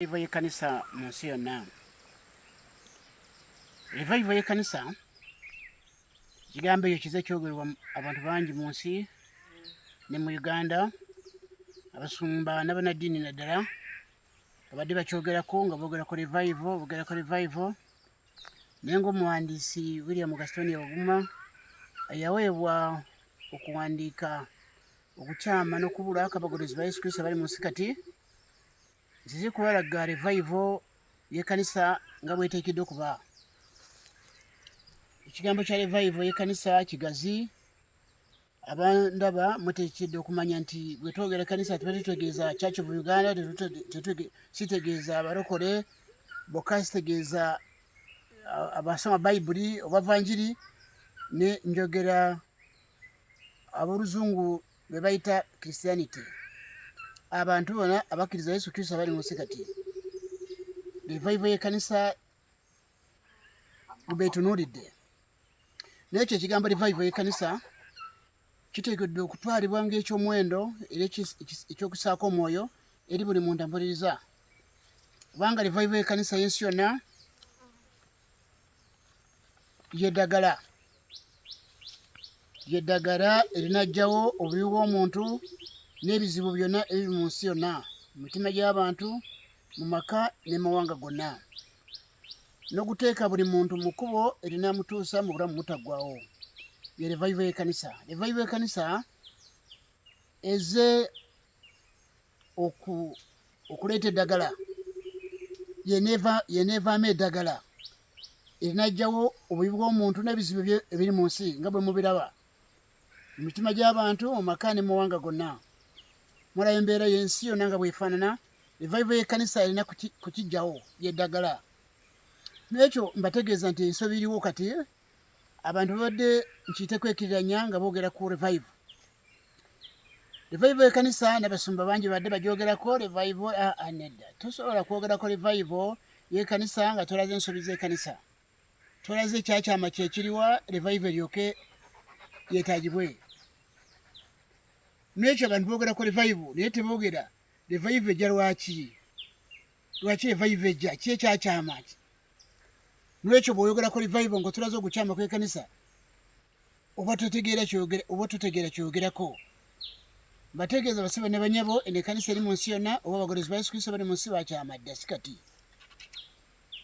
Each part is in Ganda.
Revival y'ekkanisa mu nsi yonna. Revival y'ekkanisa kigambo ekyo kize kyogerwa abantu bangi mu nsi ne mu Uganda abasumba n'abannaddiini naddala babadde bakyogerako nga boogerako revival boogerako revival naye ng'omuwandiisi William Gastonia Oguma yaweebwa okuwandiika okukyama n'okubula akabagulizi ba Yesu Kristo abali mu nsi kati nzize kubalaga revaivo yekanisa nga bwetekedde okuba ekigambo kya revaivo yekanisa kigazi abandaba mutekedde okumanya nti bwetwogera ekanisa tuba tutegeeza church of uganda sitegeeza abalokole bokka sitegeeza abasoma bayibuli obavanjiri ne njogera aboluzungu gwe bayita christianity abantu bona abakkiriza yesu kristo abali munsi kati revaivo yekanisa gwebetunuulidde nekyo ekigambo revaivo yekanisa kiteekeddwa okutwalibwa ngaekyomuwendo era ekyokusaako omwoyo eri buli muntu ampuliriza kubanga revaivo yekanisa yensi yonna lyedagala lyedagala erinajjawo obubi bw'omuntu n'ebizibu byonna ebiri mu nsi yonna mu mitima gy'abantu mu maka n'emawanga gonna n'okuteeka buli muntu mu kkubo erinamutuusa mu bulamu mutaggwawo ye revival y'ekanisa revival y'ekanisa eze okuleeta eddagala yeneevaamu eddagala erinajjawo obubi bw'omuntu n'ebizibu bye ebiri mu nsi nga bwe mubiraba mu mitima gy'abantu mu maka ne muwanga gonna mulayo embeera y'ensi yonna nga bwefaanana evaiva y'ekkanisa erina kukijjawo yeddagala n'ekyo mbategeeza nti ensobi iriwo kati abantu babadde nkiyite kwekiriranya nga boogera ku revive revive ekanisa nabasumba bangi badde bagyogerako revive aa ah, ah, nedda tosobola kwogerako revive yekanisa nga tolaze ensobi zekanisa tolaze ekyakyama kyekiriwa revive eryoke yetagibwe nekyo abantu bogerako revive naye tebogera revive eja lwaki lwaki revive ejja ki ekyakyama ki lwekyo bweoyogerako revive nga otulaze ogukyama kwekanisa oba tutegeera kyogera oba tutegeera kyogerako bategeeza basibe ne banyabo eno ekanisa eri mu nsi yonna oba abagolozi ba yesu kristo bali mu nsi bakyama dda si kati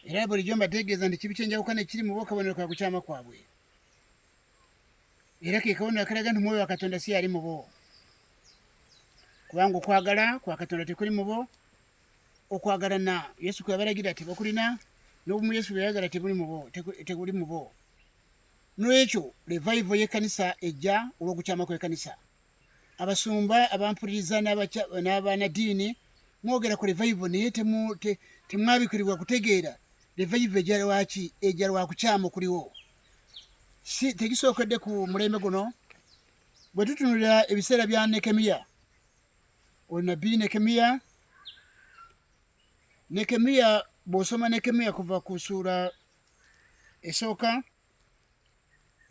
era bulijjo mbategeeza nti kibi kyenjawukana ekiri mu bokabonero ka kukyama kwabwe era ke kabonero akalaga nti mwoyo wa katonda si yali mu bo kubanga okwagala kwa katonda tekuli mu bo okwagalana yesu kweyabalagira ti bakulina nobumu yesu bweyayagala teguli mubo teguli mubo nolwekyo revival yekanisa ejja olwokukyama kwekanisa abasumba abampuliriza n'abanadiini mwogera ku revival naye temwabikirirwa kutegeera revival ejalwaki ejalwakukyama okuliwo si tegisookedde ku mulembe guno bwe tutunulira ebiseera bya nekemiya oyo nabbi nekemiya nekemiya bwosoma nekemiya kuva ku suula esooka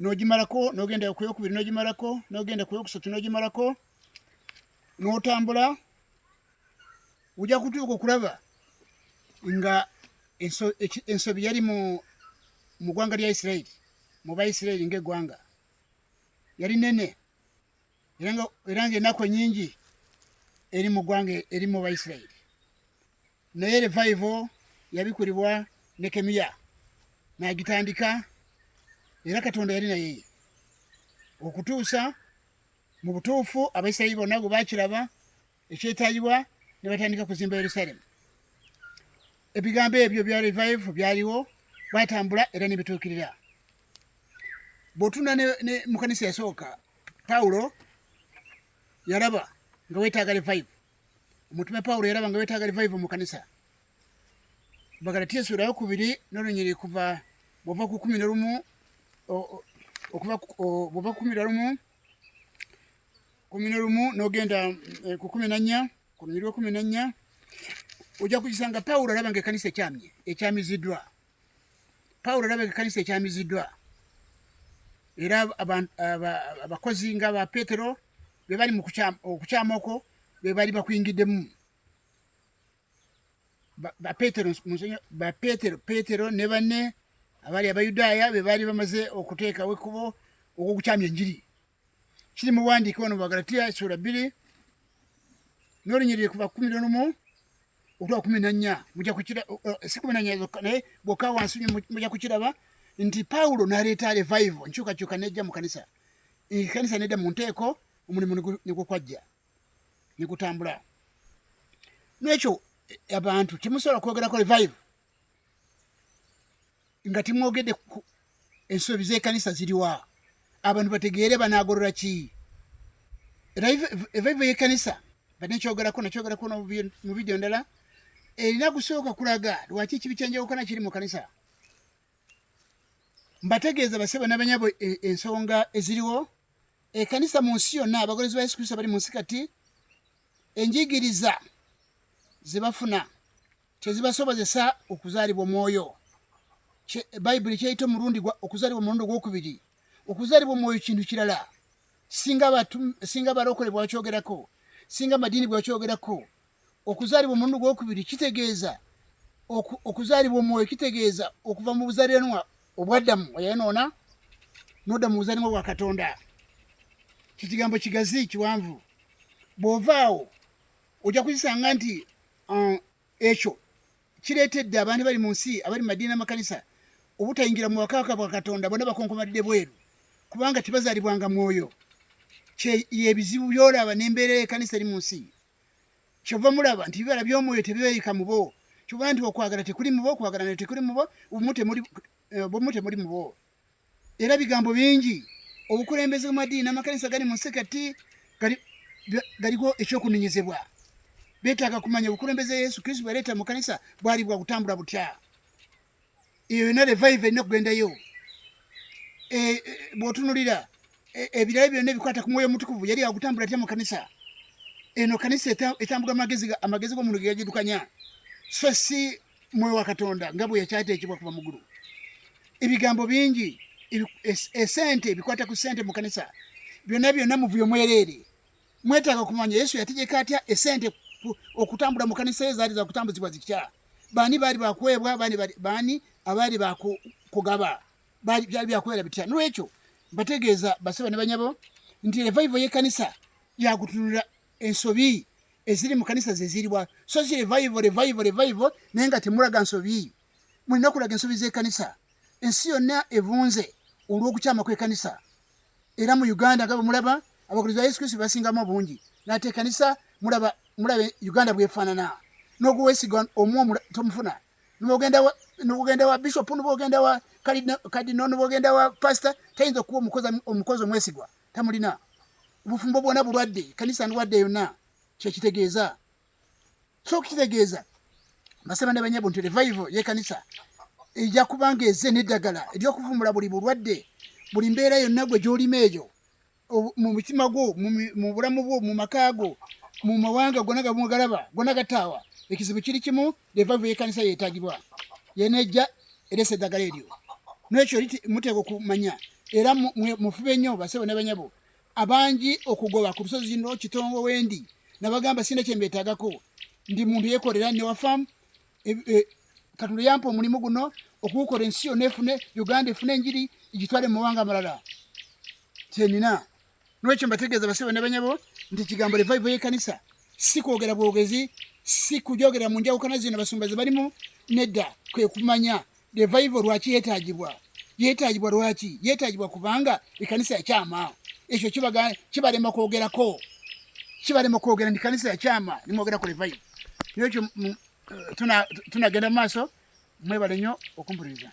nogimalako nogenda kuyokubiri nogimalako nogenda kuyokusatu nogimalako notambula ojja kutuuka okulaba nga ensobi yali mu ggwanga lya isirairi mu baisirairi ngaeggwanga yali nene era nga enaku enyingi eri mu ggwanga eri mu baisirairi naye revaivo yabikulibwa nekemiya nagitandika era katonda yali naye okutuusa mu butuufu abaisirairi bonna bwe bakiraba ekyetaagibwa ne batandika kuzimba yerusalemu ebigambo ebyo bya revive byaliwo batambula era nebituukirira bwotunda ne mukanisa yasooka pawulo yalaba nga wetaaga revive omutume pawulo yalaba nga wetaaga revive mukanisa bagalatiya essuula yokubiri nolunyiri kuva bwova kukumi nolumu okuva bwova kukumi nolumu kumi nolumu nogenda eh, ku kumi nannya ku lunyiri lwekumi nannya ojja kukisanga pawulo alaba nga ekanisa ekyamye ekyamiziddwa pawulo alaba nga ekanisa ekyamiziddwa era abakozi nga ba petero bebali mu okukyama okwo bebali bakuyingiddemu bapetero ne banne abaali abayudaaya be baali bamaze okuteekawo ekkubo ogw'okukyamya enjiri kiri mu buwandiike ono bubagalatiya essuula bbiri n'olunyiriri kuva kumi n'olumu otwa kumi nannya muja kukira si kumi nannya zokka naye bwokka wansi muja kukiraba nti pawulo n'aleeta revival nkyukakyuka nejja mu kanisa ekanisa nedda mu nteeko omulimu nigukwajja nekutambula nekyo abantu temusobola kwogerako revive nga timwogedde ensobi zekanisa ziriwa abantu bategeere banagorora ki revive yekanisa bade nkyogerako nakyogerako mu vidiyo ndala erina kusooka kulaga lwaki ekibi kyanjawukana kiri mu kanisa mbategeeza basebo nabanyabo e, ensonga eziriwo ekanisa mu nsi yonna abagoberezi ba yesu kristo bali mu nsi kati enjigiriza ze bafuna kyezibasobozesa okuzaalibwa omwoyo bayibuli kyeyita omulundi okuzaalibwa omulundi ogwokubiri okuzaalibwa omwoyo kintu kirala singa balokole bwakyogerako singa amadiini bwakyogerako okuzaalibwa omulundi gwokubiri kitegeeza okuzaalibwa omwoyo kitegeeza okuva mu buzalenwa obwaddamu oyonoona nodda mu buzalenwa bwa katonda kikigambo kigazi kiwanvu bwovaawo ojja kukisanga nti uh, ekyo kireetedde abantu bali mu nsi abali mu madiini amakanisa obutayingira mu wakaka bwa katonda bona bakonkomadde bweru kubanga tibazaalibwanga mwoyo yebizibu byolaba nembeera ekanisa eri mu nsi kyova mulaba nti bibala by'omwoyo tebibeeyika mu bo kyova nti okwagala tekuli mu bo okwagala nayo tekuli mu bo obumu temuli eh, mu bo era bigambo bingi obukulembeze bw'amadiini n'amakanisa gali mu nsi kati galiko ekyokunenyezebwa beetaaga kumanya obukulembeze yesu kristo bwaleeta mu kanisa bwali bwakutambula butya eyo yona revive erina okugendayo e, e, bwotunulira e, ebirala byonna ebikwata ku mwoyo omutukuvu yali agutambula atya mu kanisa eno kanisa etambula amagezi gomuntu gegagidukanya so si mwoyo wa katonda nga bwe yakyateekebwa kuva mugulu ebigambo bingi esente ebikwata ku sente mu kanisa byonna byonna muvuyo mwereere mwetaaga kumanya yesu yategeka atya esente okutambula mu kanisa ye zaali zakutambuzibwa zitya baani baali bakuweebwa baani abaali bakugaba byali byakubeera bitya nolwekyo bategeeza basaba ne banyabo nti revaivo yekanisa yakutunula ensobi eziri mu kanisa zeziribwa so si revaivo revaivo revaivo naye nga temulaga nsobi mulina okulaga ensobi zekanisa ensi yonna evunze olw'okukyama kw'ekanisa era mu uganda nga bwemulaba abakuliriza yesu kristo basingamu obungi nate ekanisa mulaba mulaba uganda bwefaanana noguwesiga omu tomufuna nogenda wa bishop nogenda wa kadino nogenda wa pastor tayinza okuba omukozi omwesigwa tamulina obufumbo bwona bulwadde ekanisa ndwadde yonna kyekitegeeza so kitegeeza basaba ne banyabo nti revival yekanisa eja kubanga eze neddagala eryokuvumbula buli bulwadde buli mbeera yonna gwe gyolima eyo mu mutima gwo mu bulamu bwo mu maka go mu mawanga gona gamugalaba gona gataawa ekizibu kiri kimu revival yekanisa yetagibwa yenejja eresa eddagala eryo nekyo muteeka okumanya era mufube nnyo basebo ne banyabo abangi okugoba ku lusozi zino kitongo wendi nabagamba sina kyembetagako ndi muntu yekolera ne wafamu e, e, katonda yampa omulimu guno okuwukola ensi yona efune uganda efune enjiri igitwale mumawanga amalala kyenina nolwekyo mbategeeza basebo nabanyabo nti ekigambo revival yekanisa si kwogera bwogezi si kujogera mu njawukana zino basumba zebalimu nedda kwekumanya Revival lwaki yetagibwa? Yetagibwa lwaki? Yetagibwa kubanga ekanisa yakyama. Ekyo kibaga kibalema kwogerako. Kibalema kwogera ndi kanisa yakyama nimwogera ku revival. Nekyo eh, tuna tunagenda maaso mwebale nnyo okumpuliriza.